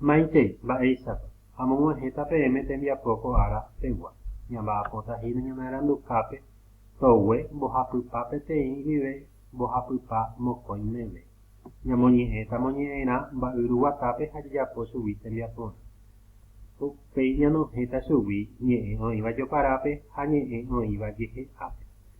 Maitei, mba'éichapa? Amog̃uahẽta peẽme tembiapo ko ára pegua. Ñamba'apóta hína ñanearanduhápe togue mbohapypa peteĩ guive mbohapypa mokõi meve. Ñamoñe'ẽta moñe'ẽrã mba'yru guatápe ha jajapo chugui tembiaporã. Upéi ñanohẽta chugui ñe'ẽ oĩva joparápe ha ñe'ẽ oĩva jehe'ápe.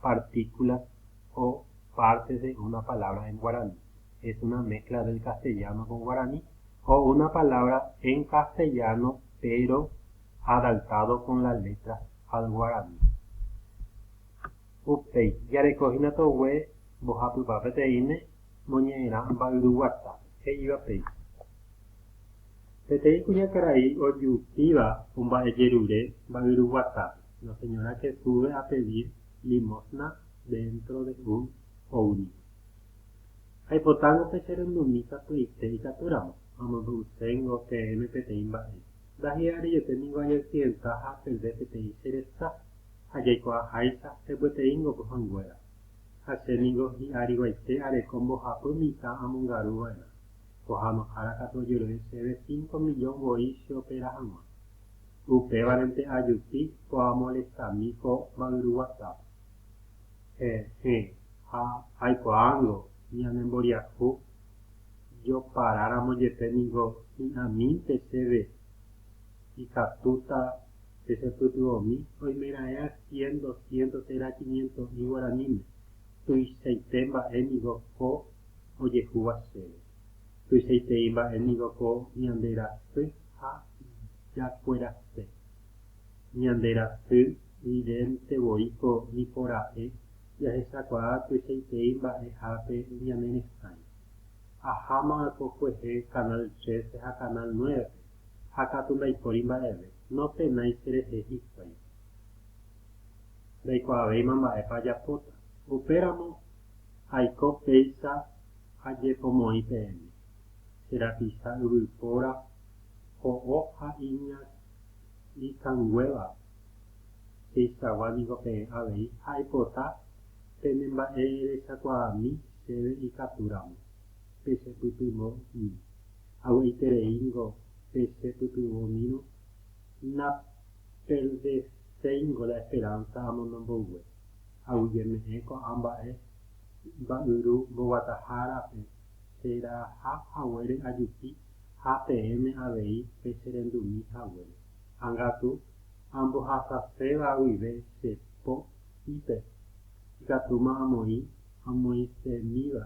partículas o partes de una palabra en guaraní, es una mezcla del castellano con guaraní o una palabra en castellano pero adaptado con las letras al guaraní. Upéi, jareko hína togue mbohapypa peteĩme moñe'ẽrã mba'yruguata, he'íva péicha. Peteĩ kuñakarai ojupíva omba'ejerure mba'yruguatápe. La señora que sube a pedir limosna dentro de un ómnibus. Aipotángo pe cherendumi katuete ikatúramo, amombe'uséngo peẽme peteĩ mba'e. Ndahi'arejote ningo añaksidenta ha apeve peteĩ che resa, ha jaikuaaháicha hembyeteingo pohãnguéra. Ha che ningo hi'ariguaite areko mbohapy mitã amongaru va'erã. Pohanohára katu ojero'e chéve cinco millón voi cheopera hag̃ua. Upévarente ajupi oamolestami ko mba'yru WhatsApp. Heẽ, ha aikuaángo ñanemboriahu joparáramo jepe ningo hi'ãmínte chéve ikatúta pechepytyvõmi oimeraẽa cien, doscientos térã quiniento'i guaraníme. Tuichaite mba'e ningo ko ojehúva chéve. Tuichaitei mba'e ningo ko ñande rasy ha ijakuerase. Ñande rasy vidente voíko niko ra'e jahechakuaa tuichaiterei mba'ehápe ñane resãi. Aháma ko kuehe Canal trece ha Canal nueve-pe ha katu ndaipóri mba'eve, nopenái cherehe hikuái. Ndaikuaavéima mba'épa ajapóta. Upéramo aiko péicha ajepomoĩ peẽme, che rapicha yvypóra, Ho'o ha iña ikanguéva peichagua niko peẽ avei ha aipota penemba'erechakuaami chéve ikatúramo pechepytyvõmi. Avy'aiterei niko pechepytyvõmírõ naperdeséingo la esperánsa amondo mboyve. Aguyjeme'ẽ ko'ã mba'e mba'yru mboguatahárape cheraha haguére ajupi ha peẽme avei pecherendumi haguére, ágatu ambohasaséva guive che po ípe, ikatúma amoĩ amoĩsemíva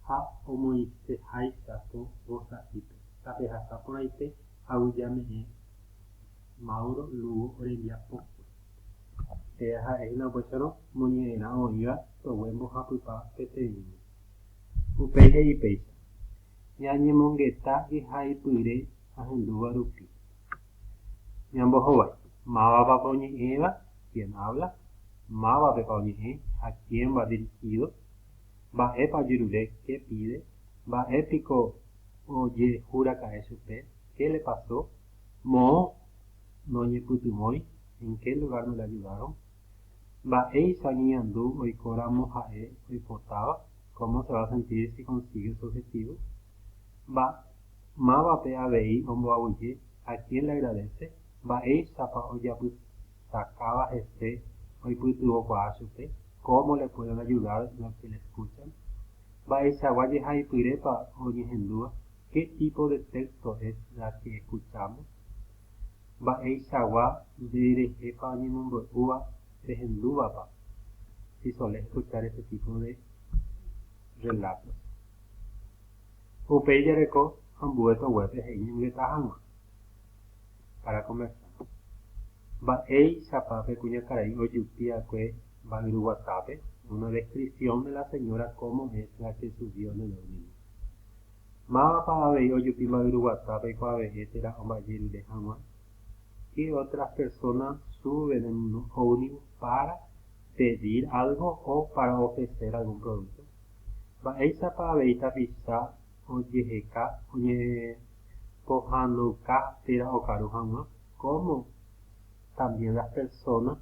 ha omoĩseháicha po vosaípe. Tapehasa porãite aguijame'ẽ Mauro Lugo orembiapókue. Péa ha'e hína upéicharõ moñe'ẽrã oĩva sogue mbohapypa peteĩme. Upéi he'i péicha, ñañemongeta ihaipyre ahendúva rupi. Ñambohovái, Mávapapa oñe'ẽva, quién habla, mávapepa oñe'ẽ, a quién va dirigido, mba'épa ojerure, qué pide, mba'e piko ojehuraka'e chupe, qué le pasó, moõ noñepytyvõi, en qué lugar no le ayudaron, Mba'éicha oñeñandu oikóramo ha'e oipotáva, cómo se va a sentir si consigue su objetivo? Mba, mávape avei omboaguyje, a quién le agradece? Mba'éichapa ojapytakáva hese oipytyvõkuaa chupe? Cómo le pueden ayudar los que le escuchan? Mba'eichagua jehaipyrépa oñehendúva? Qué tipo de texto es la que escuchamos? Mba'eichagua ndererépa oñemombe'úva rehendúvapa si sole escuchar este tipo de relatos. Upéi jareko ambue toguépe he'i ñongeta hag̃ua para conversar. Mba'éichapa pe kuñakarai ojupi va'ekue mba'yru guatápe? Una descripción de la señora cómo es la que subió en el domingo. Mávapa avei ojupi mayru guata peikuaave'ẽ térã omba'ejerure hag̃ua? Ke otras personas suben en un ómnibus pára pedir algo o pára ofrecer algún producto? Mba'éichapa avei tapicha ojeheka oñepohãnouka térã okaru hag̃ua? Cómo también las personas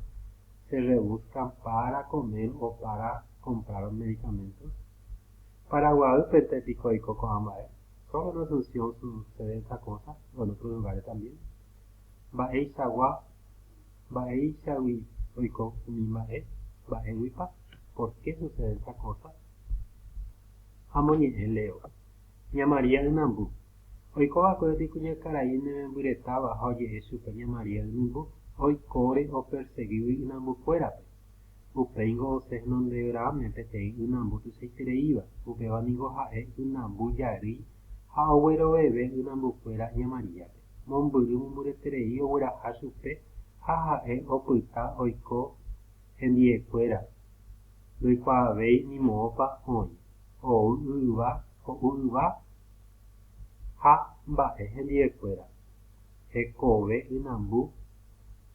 se rebuscan pára comer o pára comprar medicamentos? Paraguaýpente piko oiko ko'ã mba'e? Sólo en Asunción sucede esta cosa o en otros lugares también? Mba'eichagua mba'eichagui oiko umi mba'e mba'éguipa por qué sucede esta cosa? Amoñe'ẽ Leo. Ña María ynambu. Oiko va'ekue umi kuñakarai nemembyretáva ha oje'e chupe ña María ynimbu oikóre opersegígui ynambukuérape. Upéingo osẽ henondegráme peteĩ ynambu tuichaitereíva, upéva ningo ha'e ynambu jarýi ha ogueroveve ynambukuéra ña Maríape. Mombyry mombyreterei ogueraha chupe ha ha'e opyta oiko hendiekuéra, ndoikuaavéi ni moõpa oĩ, ou yva, ho'u yva ha mba'e hendiekuéra, hekove ynambu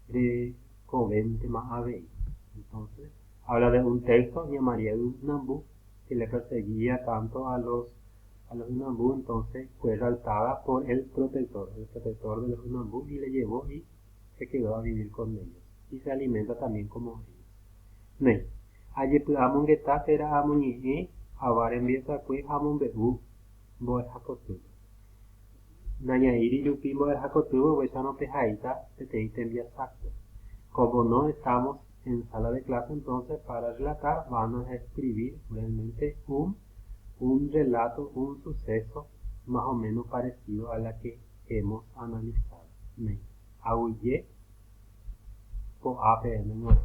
rekovéntema avei. Entonces, habla de un texto oñemomaria ynambu, que le perseguía tanto a los a los ynambu, entonces fue exaltada por el protector, el protector de los ynambu, y le llevó y se quedó a vivir con ellos, y se alimenta también como ellos. Ne, ajepy'amongeta térã amoñe'ẽ ava rembiasakue ha amombe'u mbo'ehapotýpe. Nañaíri rupi mbo'ehakotývo oguechárõ pehaíta peteĩ tembiasákpe. Como no estamos en sala de clase entonces para relatar vamos a escribir realmente un un relato, un suceso más o menos parecido a la que hemos analizado. Aguyje ko'ápe aime g̃uarã.